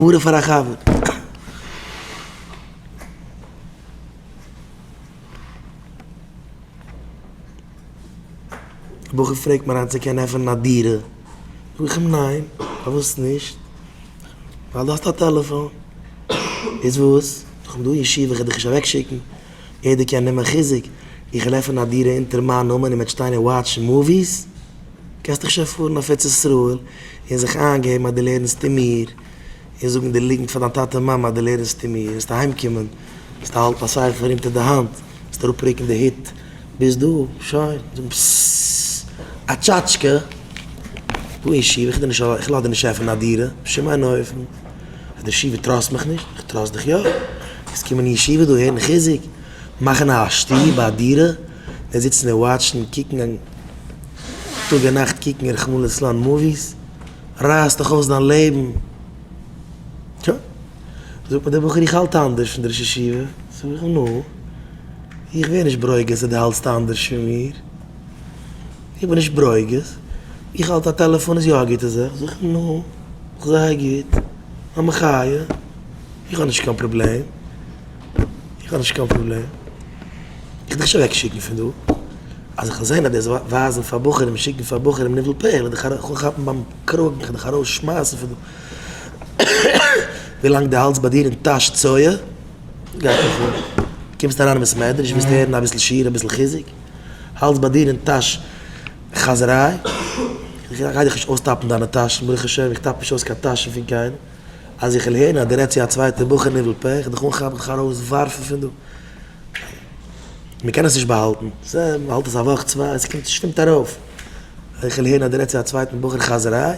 מרה פאר א חבר. א בחור פרעגט מיר היינט צו קען עפענען א דירה, זאג איך אים ניין, פארוואס נישט? ווייל דו האסט א טעלעפאן. איז וואס? זאג איך דא אין ישיבה וועט ער דיך נישט אוועק שיקן, יעדער קען נעמען חיזוק, איך וועל עפענען א דירה אונטער מיין נאמען און מ'וועט שטיין און וואטשן מאוויס? קענסט דאך שוין פארן אויף ארץ ישראל און זיך איינגעבן אז דו לערנסט אין מיר, און זאגן די ליגנט פאר דיין טאטע און מאמע אז דו לערנסט אין מיר, וועסטו אהיים קומען, וועסטו האלטן א ספר אונטער די האנט, וועסט אראפ רוקן די הוט, ביז דא, שוין, זאגן פססססססססססס, א טשאטשקע, דא אין ישיבה, איך גיב דיר נישט א, איך לאז דיר נישט עפענען א דירה, בשום אין אופן, אז די ישיבה טראסט מיך נישט, איך טראסט דיך יא, וועסט קומען אין ישיבה דא הערן חיזוק, מאכן א שטוב, א דירה. מיר זיצן און וואטשן קוקן און טאג און נאכט קוקן רחמנא ליצלן מאוויס רייסט דיך אויס דיין לעבן, טא זאגט מיר דער בחור איך האלט אנדערש פון די ראש ישיבה, זאג איך נו איך ווער נישט ברוגז אז די האלטסט אנדערש פון מיר, איך בין נישט ברוגז, איך האלט א טעלעפאן איז יא א גוטע זאך, זאג איך נו זייער גוט א מחיה איך האב נישט קיין פראבלעם איך האב נישט קיין פראבלעם. איך דארף שוין אוועק שיקן פון דא, אז איך וועל זען אז דאס ווייזן פאר בחורים שיקן פאר בחורים ניבול פה, וועל דיך ארויס כאפן ביים קראגן איך דיך ארויס שמייסן פון דא, ווילאנג דו האלטסט ביי דיר אין טאש צואה, גייט נישט אן, קומסט אריין אין בית מדרש ווילסט הערן אביסל שיעור אביסל חיזוק, האלטסט ביי דיר אין טאש חאזעריי, איך גיי דיך נישט אויסטאפן דיינע טאשן, ברוך השם איך טאפ נישט אויס קיין טאשן פון קיינעם, אז איך וועל הערן אז דו רעדסט צו א צווייטער בחור ניבול פה, איך וועל דיך אנכאפן דיך ארויס ווארפן פון דא. מען קען עס נישט באהאלטן, ס ה מען האלט עס א וואך צוויי עס קומט שטומט ארויף, איך וויל הערן אז דו רעדסט צו א צווייטן בחור חאזעריי,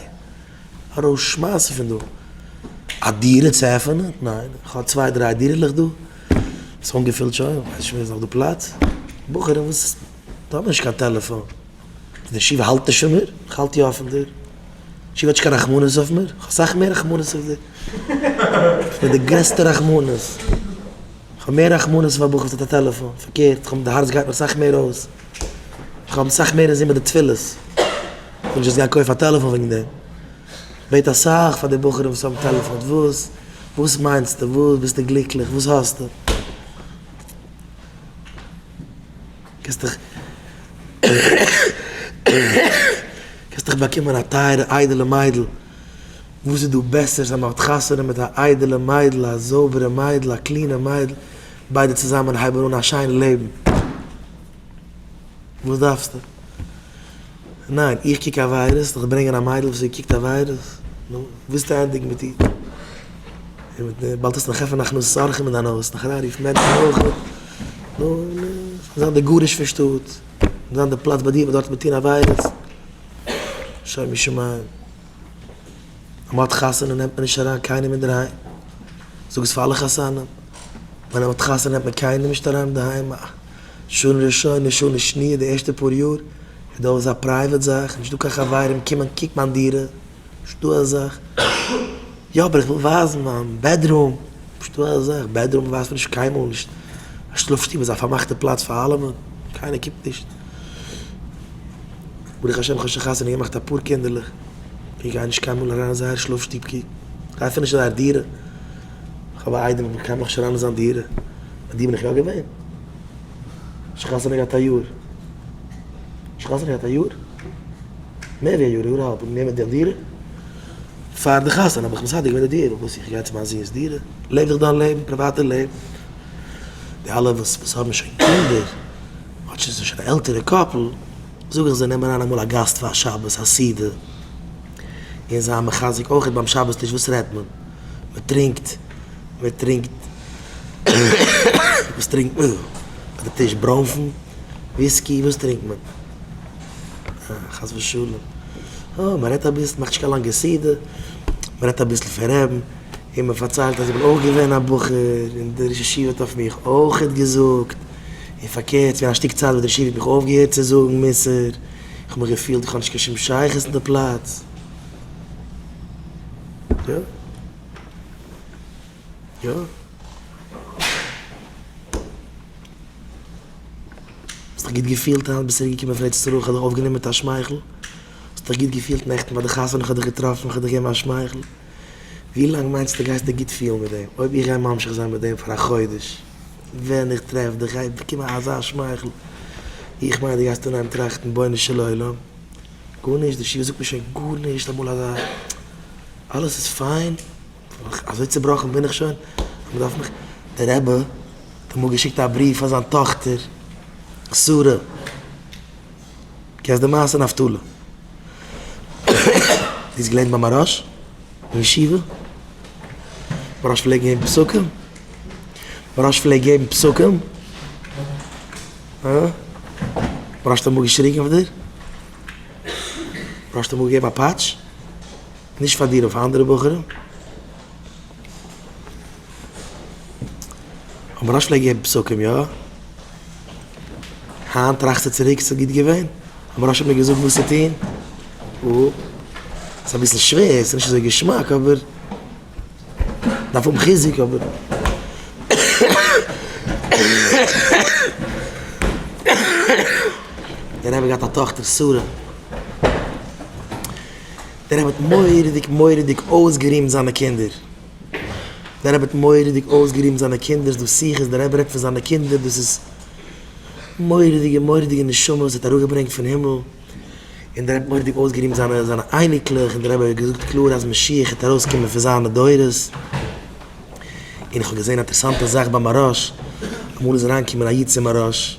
ארויס שמייסן פון דא, א דירה צו עפענען? ניין, איך האב צוויי דריי דירה'לעך דא, ס'איז אנגעפילט שוין, איך ווייס נישט ווי איז נאך דא פלאץ, בחורים וואס האבן נישט קיין טעלעפאן, די ישיבה האלט נישט פון מיר, איך האלט יא פון דיר, ישיבה האט נישט קיין רחמנות אויף מיר, איך האב סאך מער רחמנות אויף דיר, איך בין די גרעסטע רחמנות. כ'האב מער רחמנות אויף א בחור וואס האט א טעלעפאן, פארקערט, כ'האב די הארץ גייט מיר אסאך מער אויס, איך האב אסאך מער אינזין מיט די תפילות, כ'וועל נישט יעצט גיין קויפן א טעלעפאן וועגן דעם, כ'בעט אסאך פאר די בחורים וואס האבן טעלעפאן, וואס וואס מיינסטו, וואס ביסטו גליקליך, וואס האסטו, קענסטעך קענסטעך באקומען א טייערע איידעלע מיידל, וואס איז דא בעסערס אז מען האט חתונה מיט א איידעלע מיידל, א זויבערע מיידל, א קלינע מיידל, ביידע צוזאמען הייבן אן א שיין לעבן. וואס דארפסטו? ניין, איך קוק עבירות, זאל איך ברענגען א מיידל וואס איר קוקט עבירות? נו, ווילסטו ענדיגן מיט איר? און מיט די, באלד טוסטו נאך עפענען הכנסת אורחים אין דיין הויז, נאך אריין רופן מענטשן אויך, נו, און זיין די גרוש פון שטאט, זיין די פלאץ ביי דיר וואס דארט וועט מען טון עבירות. שוימי שמים. ווען מ'האט חתונה נעמט מען נישט אריין קיינעם אינדערהיים. זאג עס פאר אלע חתנים. ווען מ'האט חתונה נעמט מען קיינעם נישט אריין אינדערהיים. שנה ראשונה, שנה שניה, די ערשטע פאר יאר איז דא אלעס א פרייוועט זאך. נישטא קיין חברים קומען קוקן אין דירה. פשטו א זאך, יא אבער איך וויל ווייזן מיין בעדרום, פשטו א זאך, בעדרום ווייזט מען נישט קיינמאל נישט, א שלאף שטוב איז א פארמאכטע פלאץ פאר אלעמען, קיינער קוקט נישט, ברוך השם כ'האב שוין חתונה געמאכט אפאר קינדערלעך, איך גיי נישט קיינמאל אריין אין זייער שלאף שטוב קוקן, איך גיי אפילו נישט אין זייער דירה, איך האב א איידעם אבער קיינמאל נישט אריין אין זיין דירה, ביי דיר בין איך יא געווען, שוין חתונה געהאט א יאר, שוין חתונה געהאט א יאר? מער ווי א יאר, יאר אהאלב האבן גענומען די דירה, פאר די חתונה האב איך מסדר געווען די דירה, וואס איך גיי צו מיין זון'ס דירה, לעב איך דיין לעבן, פריוואטע לעבן, די אלע וואס וואס האבן שוין קינדער, אדער זיי זענען שוין א עלטערע קאפל, זאג איך זיי נעם אריין אמאל א גאסט פאר שבת א סעודה, און זיי מחזק אויכעט ביים שבת טיש, וואס רעדט מען? מען טרינקט, מען טרינקט, וואס טרינקט מען ביי די טיש? ברוינפן? וויסקי? וואס טרינקט מען? חס ושלום. אה, מען רעדט אביסל, מאכט נישט קיין לאנגע סדר, מען רעדט אביסל פון ר' און מען פארציילט אז איך בין אויך געווען א בחור און דער ראש ישיבה האט אויף מיך אויכעט געזאגט, און פארקערט ווי א שטיק צייט וואס דער ישיבה האט מיך אויפגעהערט צו זאגן מוסר, איך האב מיך געפילט איך האב נישט קיין שום שייכות אין די פלאץ. יא. יא. האסט דיך גוט געפילט היינט? ביסט אריבערגעקומען פון ארץ ישראל? כ'האב דיך אויפגענומען מיט א שמייכל. האסט דיך גוט געפילט נעכטן ביי די חתונה? כ'האב דיך געטראפן, כ'האב דיך געגעבן א שמייכל. ווי לאנג מיינסטו גייסט דיך גוט פילן מיט דעם? אויב איך גיי ממשיך זיין מיט דעם פאר א חודש, ווען איך טרעף דיך גיי איך באקומען אזא שמייכל. איך מיין דו גייסט אנהייבן טראכטן בונו של עולם. גארנישט, די שיר זאגט מיר שוין גארנישט אמאל אזא. אלעס איז פיין. אזוי צעבראכן בין איך שוין אז מ'דארף מיך. דער רבי. אמאל געשיקט א בריוו פאר זיין טאכטער שרה, קענסט די מעשה נפתלי? זי איז געלערנט ביי מהראש אין ישיבה, מהראש פלעגט געבן פסקים, מהראש פלעגט געבן פסקים, אה? מהראש האט אמאל געשריגן אויף דיר? מהראש האט אמאל געגעבן א פאטש? נישט פאר דיר אויף אנדערע בחורים? האבן ראש ל געגעבן פסקים יא? היינט טראכסטו צוריק ס'איז גוט געווען? האבן ראש ל מיר געזאגט וואס צו טון? אאפס. ס'איז אביסל שווער, ס'איז נישט אזוי געשמאק אבער מ'דארף האבן חיזוק אבער. דער רבי האט געהאט א טאכטער שרה. דער רבי האט מורא'דיג מורא'דיג אויסגערימט זיינע קינדער, דער רבי האט מורא'דיג אויסגערימט זיינע קינדער, דאס שיח איז דער רבי רעדט פון זיינע קינדער, דאס איז מורא'דיגע מורא'דיגע נשמות וואס ער האט אראפגעברענגט פון הימל, און דער רבי האט מורא'דיג אויסגערימט זיינע זיינע אייניקלעך, און דער רבי האט געזאגט קלאר אז משיח העט ארויסקומען פון זיינע דורות, און איך האב געזען א אינטערעסאנטע זאך ביי מהרש, אמאל איז אריינגעקומען א איד צו מהרש.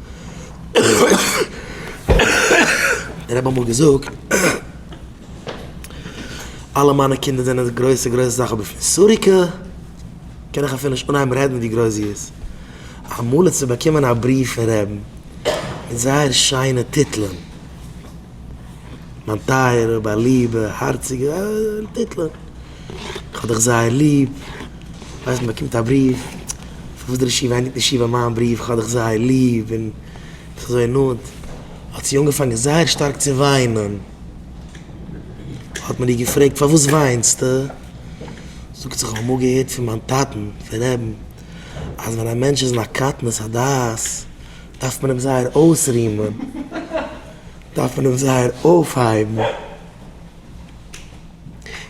איך האב אמאל געזאגט אלע מיינע קינדער זענען די גרויסע גרויסע זאך אבער פון סוריקה קען איך אפילו נישט אנהייבן רעדן ווי גרויס זי איז. אמאל איז צו באקומען א בריוו פון רעבן מיט זייער שיינע טיטלען. מיין טייערע, מיין ליבע, הארציגע, אלע טיטלען. כ'האב דיך זייער ליב. ווייסט, מ'באקומט א בריוו, פון וואס דער רשי וויינט נישט איבער מיין בריוו, כ'האב דיך זייער ליב, און ביסט אזוי נאנט. האט זי אנגעפאנגען זייער שטארק צו וויינען. האט מען איר געפרעגט, פארוואס וויינסטו? זאגט זי, כ'האב אמאל געהערט פון מיין טאטן, פון רעבן, אז ווען א מענטש איז אין א קטנות הדעת, דארף מען אים זייער אויסרימען, דארף מען אים זייער אויפהייבן,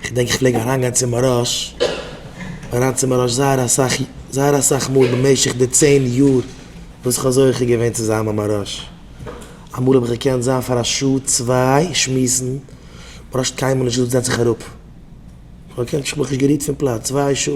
כ'דענק איך פלעג אריין גיין צו מהראש, אריין צו מהראש זייער אסאך, זייער אסאך מאל במשך די צען יאר וואס כ'האב זוכה געווען צו זיין ביי מהראש, אמאל האב איך געקענט זיין פאר א שעה צוויי שמועסן, מהראש האט קיינמאל נישט געזאגט זעץ זיך אראפ, כ'האב געקענט, כ'האב מיך נישט גערירט פון פלאץ צוויי שעה.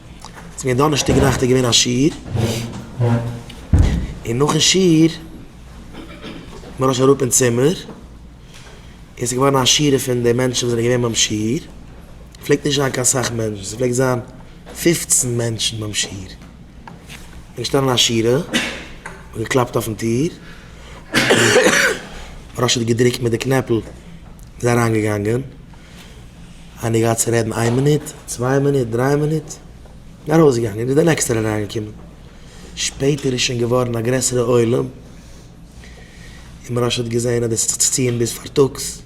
ס'איז געווען דאנערשטאג נאכט איז געווען א שיעור, און נאכן שיעור בין איך אראפ אין צימער, און ס'איז געווארן א שירה פון די מענטשן וואס זענען געווען ביים שיעור, פלעגט נישט זיין קיין סאך מענטשן, ס'פלעגט זיין פֿופֿצן מענטשן ביים שיעור, איז געשטאנען א שירה, מ'האט געקלאפט אויפן טיר, ר' האט געדרוקט מיט די קנעפל, מ'איז אריינגעגאנגען. איינער געהאט צו רעדן איין מינוט, צוויי מינוט, דריי מינוט, און ארויסגעגאנגען, איז דער נעקסטער אריינגעקומען, שפעטער איז שוין געווארן א גרעסערע עולם, און מרש האט געזען אז דאס האט זיך צו ציען ביז פארטאגס,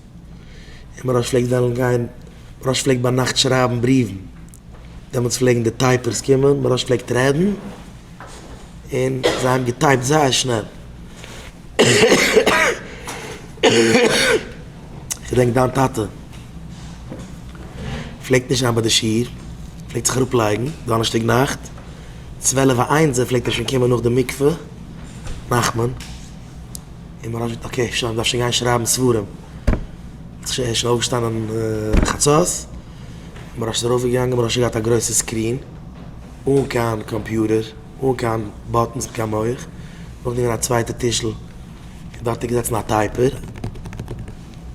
און מרש פלעגט וועלן גיין, מרש פלעגט ביינאכט שרייבן בריוון, דעמאלטס פלעגן די טייפערס קומען, מרש פלעגט רעדן, און זיי האבן געטייפט זייער שנעל. כ'דענק דיין טאטע פלעגט נישט זיין ביי די שיעור, פלעגט זיך אראפ לייגן דאנערשטאג נאכט צוועלף א איינזער פלעגט ער שוין קומען נאך די מקווה, נחמן, און מ'האט געזאגט אקעי שוין מ'דארף שוין גיין שרייבן ספרים, ער איז שוין אויפגעשטאנען חצות, מ'האט שוין ארויף געגאנגען מ'האט שוין געהאט א גרויסע סקרין, אן קיין קאמפיוטער, אן קיין באטענס און קיין מח, נאכדעם געווען א צווייטע טישל דארט איז געזעצן א טייפער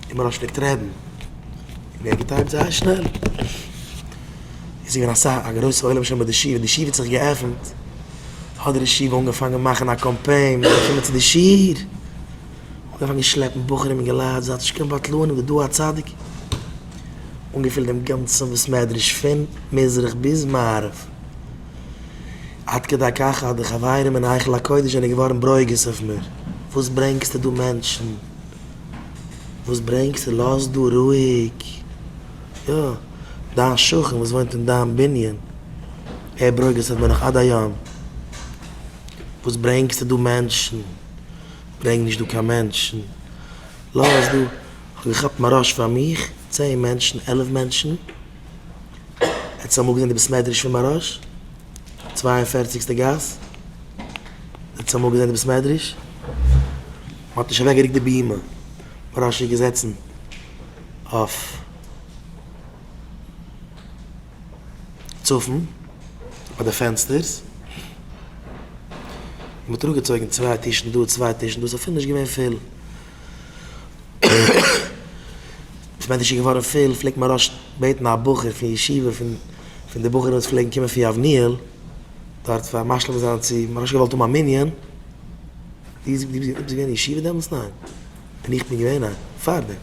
און מען האט נישט געקענט רעדן און ער האט געטייפט זייער שנעל. איז געווען א סאך א גרויסע עולם שם ביי די שול ווען די שול האט זיך געעפנט האט דער ישיבה אנגעפאנגען מאכן א קאמפיין מען זאל קומען צו די שול. אנגעפאנגען שלעפן בחורים און געלייט זייט נישט קיין בטלנים די דור הצדיק. אנגעפילט דעם גאנצן בית מדרש פון מזרח ביז מערב. עד כדי כך אז די חברים אין היכל הקודש זענען געווארן ברוגז אויף מיר, וואס ברענגסטו דא מענטשן? וואס ברענגסטו? לאז דא רואיג! יא, דיין שכן וואס וואוינט אין דיין בנין, ער ברוגז'ט אויף מיר נאך עד היום, וואס ברענגסטו דא מענטשן? ברענג נישט דא קיין מענטשן, לאז דא, כ'האב געכאפט מיין ראש פאר מיך, צען מענטשן, עלף מענטשן, עטס אמאל געזען די בית מדרש פון מאראש? צוויי און פערציגסטע גאס? עטס אמאל געזען די בית מדרש? מען האט נישט אוועק געריקט די בימה, מאראש איז געזעצן אויף צפון ביי די פענסטערס, מען האט אראפ געצויגן צוויי טישן דא צוויי טישן דא, ס'אפילו נישט געווען פול. ווען עס איז געווארן פול פלעגט מהראש בעטן א בחור פון ישיבה פון די בחורים וואס פלעגן קומען פון יבניאל דארט פאר משלים זיין צו מהראש געוואלט האבן א מנין דו ביסט געווען אין ישיבה דעמאלטס? ניין. און איך בין געווען? ניין. פארדעם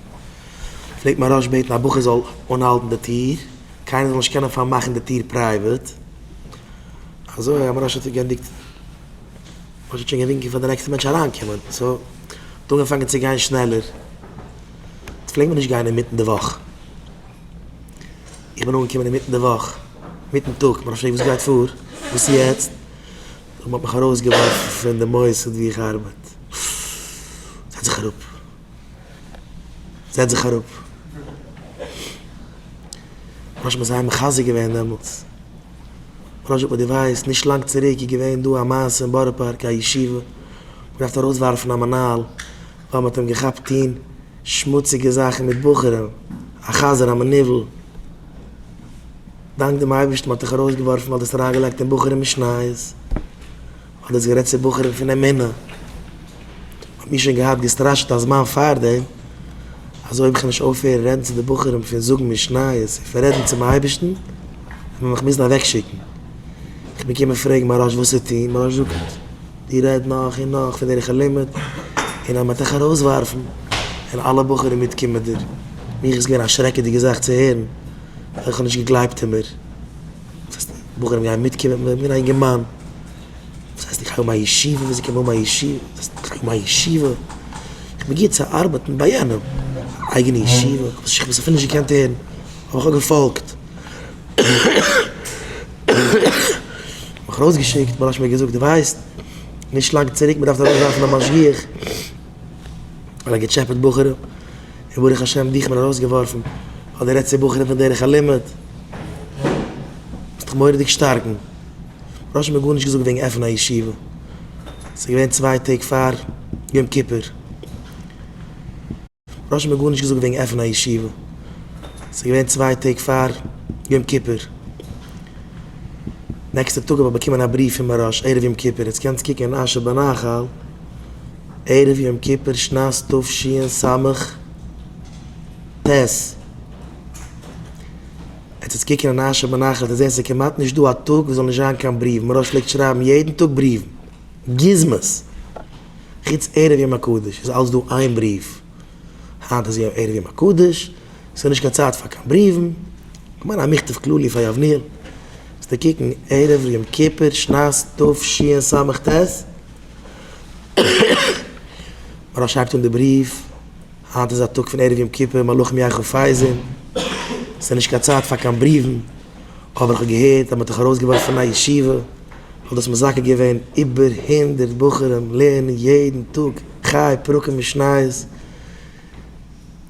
פלעגט מהראש בעטן א בחור זאל אנהאלטן די טיר קיינער זאל נישט קענען פארמאכן די טיר פרייוועט אזוי אז מהראש האט זיך גענדיגט האסט שוין געווינקען פאר די נעקסטע מענטש אריינקומען סאו האט אנגעפאנגען צו גיין שנעלער, עס פלעגט מיר נישט גיין אינמיטן די וואך, איך בין אנגעקומען אינמיטן די וואך מיטן טאג, מען האט געפרעגט וואס גייט פאר? וואס יעצט? מען האט מיך ארויסגעווארפן פון די מוסד ווי איך ארבעט, זעץ זיך אראפ, זעץ זיך אראפ, ממש מען איז זיי מחזק געווען דעמאלטס. פרשת וואס דו ווייסט, נישט לאנג צוריק איז געווען דא א מעשה אין בארא פארק א ישיבה האט געדארפט ארויסווארפן א מנהל ווייל מען האט אים געכאפט טוהן שמוציגע זאכן מיט בחורים, א חזיר א מנוול, דאנק דעם אייבערשטן מען האט דיך ארויסגעווארפן ווייל דו האסט אריינגעלייגט אין בחורים משניות. כ'האב דאס גערעדט צו בחורים פון אמונה, מען האט מיר שוין געהאט געסטראשעט א זמן פארדעם אז אויב איך נישט אויפהערן רעדן צו די בחורים פון זאגן משניות און פון רעדן צום אייבערשטן וועט מען מיך מוזן אוועקשיקן, איך בין געקומען פרעגן מהרא ש וואס צו טון, מהרא ש זאגט דו רעד נאך און נאך פון דער ערוך הלימוד און אז מען וועט דיך ארויסווארפן, און אלע בחורים מיט קומענדער, מיך איז געווען א שרעקעדיגע זאך צו הערן, ווייל איך האב נישט געגלייבט אין מיר. דאס הייסט בחורים גייען מיטקומען מיט מיר א אינגערמאן? דאס הייסט איך האב א ישיבה וואס זי קען האבן א ישיבה? דאס הייסט איך האב א ישיבה? איך בין גוט צו ארבעטן ביי יענעם? אייגענע ישיבה? וואס איך האב עס אפילו נישט געקענט הערן האב איך א געפאלגט. מיך ארויסגעשיקט מרן האט מיר געזאגט דו ווייסט נישט לאנג צוריק מען דארף ארויסווארפן א משגיח ווייל ער האט געטשעפעט בחורים און ברוך השם דיך מען ארויסגעווארפן האט דער עצי בחורים פון דרך הלימוד זיך מורא'דיג שטארקן ר' משה האט גארנישט געזאגט וועגן עפענען א ישיבה ס'איז געווען צוויי טעג פאר יום כיפור ר' משה האט גארנישט געזאגט וועגן עפענען א ישיבה ס'איז געווען צוויי טעג פאר יום כיפור נעקסטע טאג האב איך באקומען א בריוו פון מוהראש ערב יום כיפור עטס קענטס קוקן אין אשר בנחל. ערב יום כיפור שנת תשי ן ס' טז. עטס עטס קוקן און אשע מנחת און זען ס'כמעט נישט דא א טאג וואס זאל נישט זיין קיין בריוו, מוהראש פלעגט שרייבן יעדן טאג בריוון, גוזמות. חוץ ערב יום הקדוש איז אלץ דא איין בריוו. היינט איז יא ערב יום הקדוש, ס'איז נישט קיין צייט פאר קיין בריוון. כ'מיין א מכתב כללי פאר יבנאל. זאלסטו קוקן ערב יום כיפור שנת תשי ן ס' טז. מרן שרייבט אין די בריוו, היינט איז א טאג פון ערב יום כיפור, מלאכים יחו פייזען, ס'איז נישט קיין צייט פאר קיין בריוון, אבער איך האב געהערט אז מ'האט דיך ארויסגעווארפן פון א ישיבה, וואלט דאס מזכה געווען איבער הונדערט בחורים לערנען יעדן טאג חי פרקים משניות,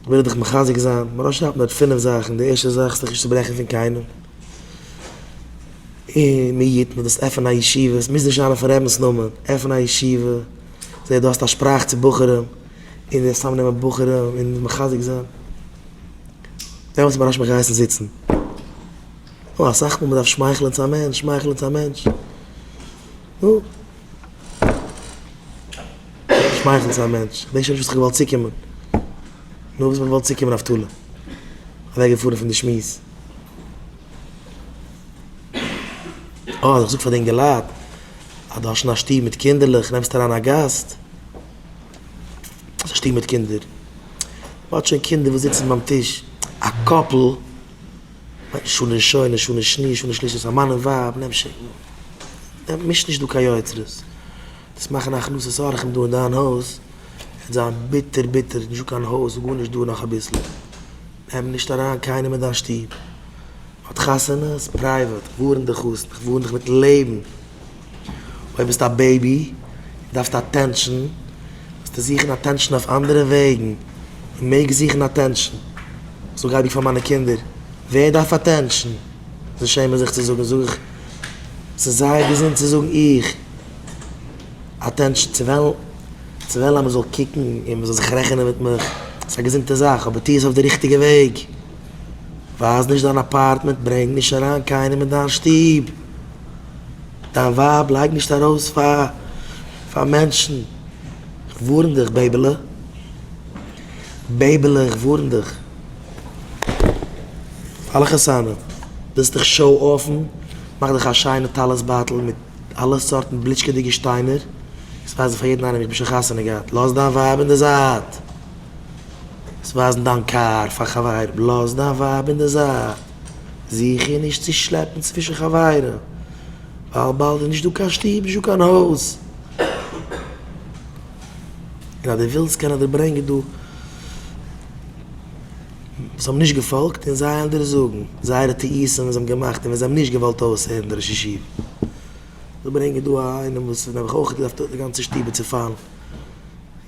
וויל איך דיך מחזק זיין, מרן שרייבט נאר פינף זאכן, די ערשטע זאך, זיך נישט צוברעכן פון קיינעם, און מי יתן דו וועסט עפענען א ישיבה, עס מוז נישט זיין אויפן רבינ'ס נאמען, עפן א ישיבה, זעה דו האסט א שפראך צו בחורים, און וועסט צוזאם נעמען בחורים און מחזק זיין, דעמאלטס האט מוהרא ש מיך געהייסן זיצן, נו אסאך מאל מען דארף שמייכלען צו א מענטש, שמייכלען צו א מענטש, נו, שמייכלען צו א מענטש, כ'דענק שוין נישט וואס כ'האב געוואלט צוקומען, נו וואס האב איך געוואלט צוקומען אבטולא, אוועק געפארן פון די שמועס. אויב איך זאג פאר די אינגעלייט אז דו האסט שוין א שטוב מיט קינדערלעך, נעמסט אריין א גאסט, ס'איז א שטוב מיט קינדער, מ'האט שוין קינדער וואס זיצן ביים טיש, א קאפל, שנה ראשונה, שנה שני', שנה שלישית, א מאן און ווייב, נעם שוין, מיש נישט דא קיין יוצרות, דאס מאכן הכנסת אורחים דא אין דיין הויז, וועט זיין ביטער ביטער, נישטא קיין הויז, גארנישט דא נאך אביסל. נעם נישט אריין קיינעם אין דיין שטוב, האט חתונות פרייוועט, ווארן די חתן, איך ווארן דיך מיטן לעבן, אויב ביסטו א בעיבי און דארפסט אטענשאן, וועסטו זוכן אטענשאן אויף אנדערע וועגן, מען מעג זוכן אטענשאן, זאג אייביג פאר מיינע קינדער, ווער דארף אטענשאן? זיי שעמען זיך צו זאגן, זאג איך, ס'איז זייער געזונט צו זאגן, איך. אטענשן צו וועלן צו וועלן אז מען זאל קוקן און מען זאל זיך רעכענען מיט מיך, ס'איז א געזונטע זאך, אבער טו עס אויף די ריכטיגע וועג, ווייז נישט דיין אפארטמענט, ברענג נישט אריין קיינעם אין דיין שטוב, דיין ווייב לייג נישט ארויס פאר פאר מענטשן, כ'ווארן דיך בעיבעלע, בעיבעלע איך ווארן דיך, פאר אלע חתנים, ווילסט דיך שאו-אפן, מאך דיך א שיינע טלית בייטל מיט. אלע סארטן בליטשקעדיגע שטיינער, עס ווייזן פאר יעדן איינעם איך בין שוין חתונה געהאט, לאז דיין ווייב אין די זייט, עס ווייזן דיין קאר פאר חברים, לאז דיין ווייב אין די זייט, זוך איר נישט צו שלעפן צווישן חברים, ווייל באלד איז נישט דא קיין שטוב, נישט דא קיין הויז. און אז דו ווילסט קען איך דיר ברענגען דא. וואס האבן נישט געפאלגט און זיי עלטערן זאגן זייערע טעותים וואס זיי האבן געמאכט און ווען זיי האבן נישט געוואלט אויסהערן די ראש ישיבה. זיי ברענגען דא א איינעם וואס האט נעבעך אויך געדארפט די גאנצע שטוב איז צופאלן.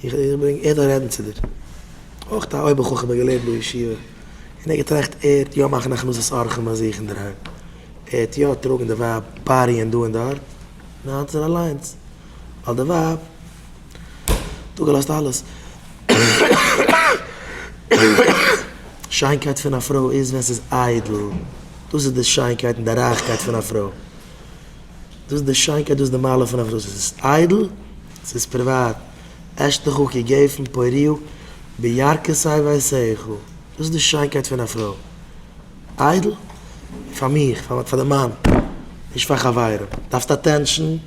איך ברענג ער זאל רעדן צו דיר. אויך א אויבער חכם האט געלערנט בישיבה און ער האט געטראכט ער וועט יא מאכן הכנסת אורחים ביי זיך אינדערהיים. ער וועט יא טראגן די ווייב פאריען דא און דארט. ניין ס'איז אליינס ווייל די ווייב. דא געלאזט אלעס. שיינקייט פון א פרוי איז ווען ס'איז איידל, דאס איז די שיינקייט און די רייכקייט פון א פרוי. דאס איז די שיינקייט דאס איז די מעלה פון א פרוי, ס'איז איידל, ס'איז פריוואט, אשתך כגפן פוריה בירכתי ואעשיך, דאס איז די שיינקייט פון א פרוי. איידל, פאר מיך, פאר די מאן, נישט פאר חברים. דארפסט אטענשאן,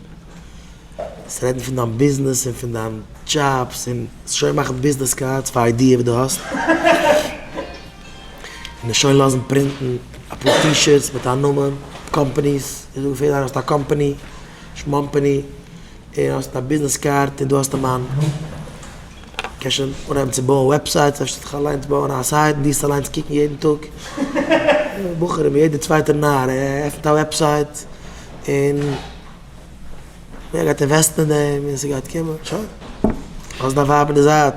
זיי רעדן פון דיין ביזנעס און פון דיין דזשאבס און שוין מאכן ביזנעס קארדס פאר איידיע וואס דו האסט און שוין לאזן פרינטן אפאר טי-שירטס מיט א נאמען קאמפאניס און זאגן פאר יעדער אז דו האסט א קאמפאני שמאמפאני און האסט א ביזנעס קארד און דא האסטו מיין קענסט שוין אנהייבן צו בויען וועבסייטס אפשר זאלסטו דיך אליינס בויען א סייט און דיסט אליינס קוקן יעדן טאג בחורים יעדער צווייטער נאר עפנט א וועבסייט און. ווער גייט אינוועסטן אין דעם ווען ס'גייט קומען? שוין, לאז דיין ווייב אין די זייט.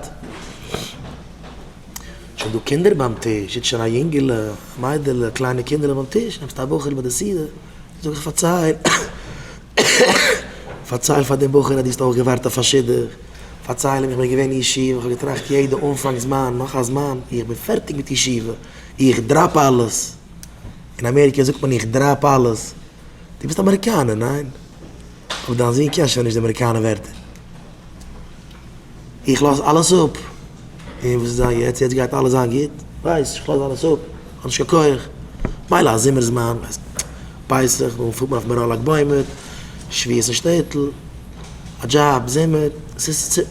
שוין דא קינדער ביים טיש, זיצט שוין א יונגעלע, מיידעלע, קליינע קינדערלעך ביים טיש, נעמסט א בחור ביי די סעודה, זאג איך פארצייל, פארצייל פאר דעם בחור אז דו האסט אויך געווארט אויף א שידוך, פארצייל אים איך בין געווען אין ישיבה, איך האב געטראכט יעדע אנפאנג זמן, נאך א זמן ווי איך בין פערטיג מיט ישיבה, איך דראפ אלעס. אין אמעריקע זאגט מען איך דראפ אלעס. דו ביסט אמעריקאנער, ניין? אבער דיין זון קען שוין נישט די אמעריקאנע ווערטער. איך לאז אלעס אפ. און וואס איז זיין יעצט? יעצט גייט אלעס זיין גוט? ווייסט, איך לאז אלעס אפ. כ'האב נישט קיין כח. מילא א זומער זמן, ווייסט, פסח, דאן פארט מען אויף מירון לג בעומר, שביעות אין שטעטל, א דזשאב, זומער. ס'איז צו,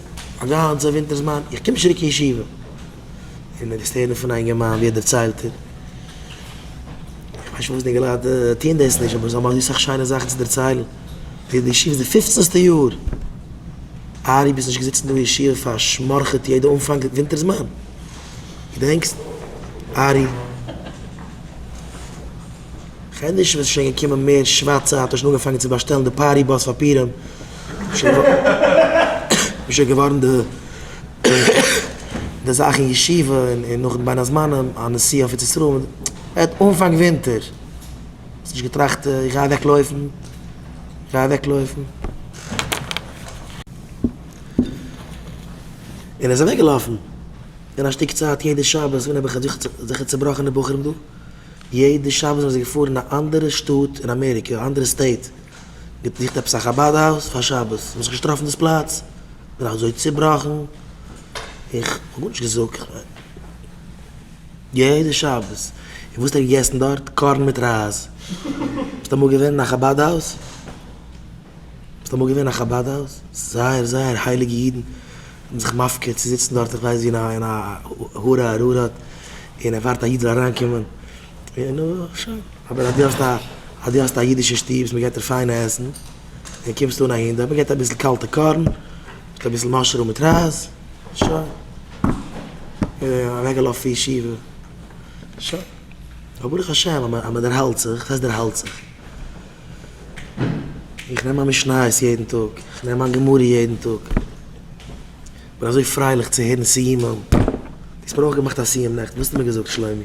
א גאנצע ווינטער זמן. איך קום נישט צוריק אין ישיבה. אין מיניסטעריום פון א אינגערמאן ווי ער דערציילט ער איך ווייס נישט פארוואס די געלייט טוען דאס נישט אבער זיי האבן אזוי סאך שיינע זאכן צו דערציילן ווי די ישיבה איז די פופצנסטע יאר ארי ביסט נישט געזיצן דא אין ישיבה פארשמארעכעט יעדע אנפאנג ווינטער זמן געדענקסט ארי? כ'רעד נישט ווען ס'איז שוין געקומען מער שבת צייט, האט ער שוין אנגעפאנגען צו באשטעלן די פארטי באס פאפירען, איז שוין געווארן די די זאך אין ישיבה און נאך בין הזמנים א נסיעה אויף ארץ ישראל, מ'רעדט אנפאנג ווינטער, האסט נישט געטראכט איך גיי אוועק לויפן, איך גיי אוועק לויפן. און ער איז אוועק געלאפן, און א שטיק צייט יעדע שבת ווען האב איך זיכער צובראכענע בחורים דא, יעדע שבת זענען זיי געפארן אין א אנדערע שטאט אין אמעריקע, א אנדערע סטעיט, געזוכט עפעס א חבד הויז פאר שבת, מיר האבן זיך נישט געטראפן דאס פלאץ, מיר זענען אזוי צובראכן, איך האב גארנישט געזאגט, יעדע שבת, און וואס האט ער געגעסן דארט? קארן מיט רייז, ביסט אמאל געווען אין א חבד הויז? ס'איז אמאל געווען א חבד הויז, זייער זייער הייליגע אידן האבן זיך מפקיר צו זיצן דארט איך ווייס ווי אין א הרה ארערה'ט און ער ווארט א איד זאל אריינקומען און שוין, אבער אז דו האסט א אז דו האסט א אידישע שטוב וואס מ'געט דיר פיינע עסן און קומסט אן אהין דארט מ'געט אביסל קאלטע קארן מיט אביסל מאשרום מיט רייז שוין און אוועקגעלאפן פון ישיבה שוין אבער ברוך השם אז מ'דערהאלט זיך וואס הייסט דערהאלט זיך איך נעם מיין משניות יעדן טאג, איך נעם מיין גמרא יעדן טאג, איך בין אזוי פרייליך צו הערן סיומים, די האסט מיר אויך געמאכט א סיום נעכטן, וואס האסטו מיר געזאגט שלומי?